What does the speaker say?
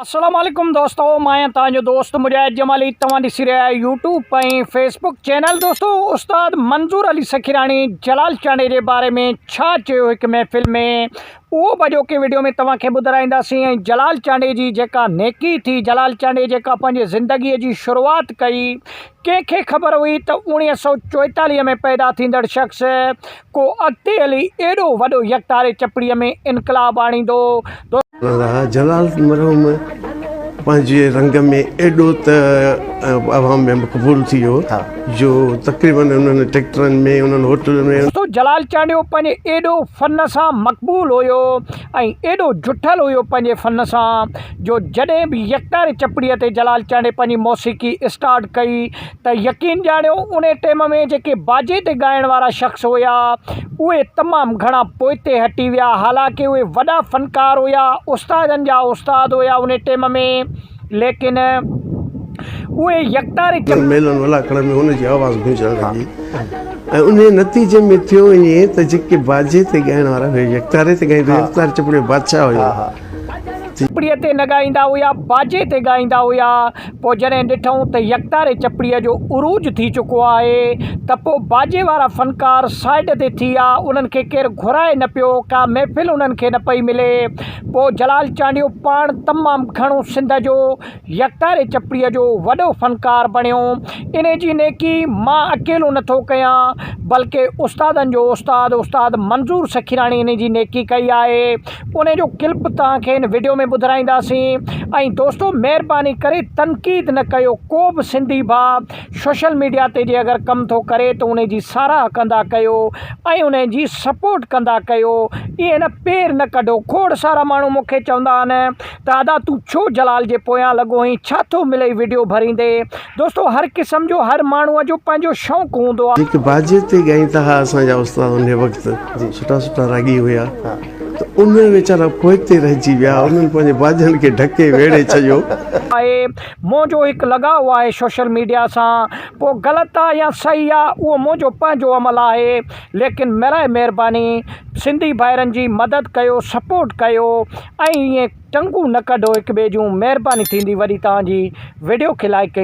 اسلام عليڪم دوستو مان آهيان توهان جو دوست مجاهد جمالي توهان ڏسي رهيا آهيو يوٽيوب ۽ فيسبوڪ چينل دوستو استاد منظور علي سخيراڻي جلال چانڊي جي باري ۾ ڇا چيو هڪ محفل ۾ اهو به اڄوڪي ويڊيو ۾ توهان کي ٻڌرائينداسين ۽ جلال چانڊي جي جيڪا نيڪي ٿي جلال چانڊي جيڪا پنهنجي زندگي جي شروعات ڪئي ڪنهن کي خبر هئي ته اوڻيهه سؤ چوئيتاليهه ۾ پيدا ٿيندڙ شخص ڪو اڳتي هلي ايڏو وڏو يڪتاري چپڙي ۾ انقلاب آڻيندو. راء جلال مرحوم پنهنجي رنگ ۾ ايڏو ته عوام ۾ مقبول ٿي ويو جو تقريباً انهن ٽيڪٽرن ۾ انهن هوٽلن ۾. سو جلال چانڊيو پنهنجي ايڏو فن سان مقبول هيو ۽ ايڏو جٺل هيو پنهنجي فن سان جو جڏهن به يڪتاري چپڙي تي جلال چانڊي پنهنجي موسيقي اسٽارٽ ڪئي ته يقين ڄاڻيو انهي ٽيم ۾ جيڪي باجي تي ڳائڻ وارا شخص هيا اهي تمام گهڻا پوئتي هٽي ويا حالانڪ اهي وڏا فنڪار هيا استادن جا استاد هيا انهي ٽيم ۾ ليڪن اهي يڪتاري ڪري. ميلن ولاکڙن ۾ ان جي آواز گونجڻ لڳي ۽ انهي نتيجي ۾ ٿيو ائين ته جيڪي باجي تي ڳائڻ وارا هيا يڪتاري تي ڳائيندا هيا يڪتار چپڙي جو بادشاهه هيو ته چپڙي تي نه ڳائيندا هيا باجي تي ڳائيندا هيا. پوء جڏهن ڏٺئون ته يڪتاري چپڙيء جو عروج ٿي چڪو آهي ته پوء باجي وارا فنڪار سائيڊ تي ٿي ويا، انهن کي ڪير گهرائي نه پيو، ڪا محفل انهن کي نه پئي ملي. پوء جلال چانڊيو پاڻ تمام گهڻو سنڌ جو يڪتاري چپڙيء جو وڏو فنڪار بڻيو. انهيء جي نيڪي مان اڪيلو نه ٿو ڪيان، بلڪه استادن جو استاد استاد منظور سخيراڻي انهيء جي نيڪي ڪئي آهي. ان جو ڪلپ توهان کي هن وڊيو ۾ ٻڌرائينداسين ۽ دوستو مهرباني ڪري تنقيد نه ڪيو ڪو به سنڌي ڀاء سوشل ميڊيا تي جي اگر ڪم ٿو ڪري ته ان جي ساراهه ڪندا ڪيو ۽ ان جي سپورٽ ڪندا ڪيو ائين نه پير نه ڪڍو کوڙ سارا ماڻهو مون کي چوندا آهن ته ادا تون ڇو جلال جي پويان لڳو آهين ڇا ٿو ملئي وڊيو ڀريندي دوستو هر قسم جو هر ماڻهو جو پنهنجو شوق هوندو آ. جيڪي باجي تي ڳائين ٿا ها اسان جا استاد انهي وقت سٺا سٺا راڳي هيا ته انهي ويچارا پوئتي رهجي ويا انهن پنهنجي باجن کي ڍڪي ويڙهي ڇڏيو. آهي منهنجو هڪ لڳاء آهي سوشل ميڊيا سان پوء غلط آ يا صحيح آ اهو منهنجو پنهنجو عمل آهي ليڪن ميرائي مهرباني سنڌي ڀائرن جي مدد ڪيو سپورٽ ڪيو ۽ ائين ٽنگون نه ڪڍو هڪ ٻئي جون مهرباني ٿيندي وڏي توهان جي وڊيو کي لائڪ ۽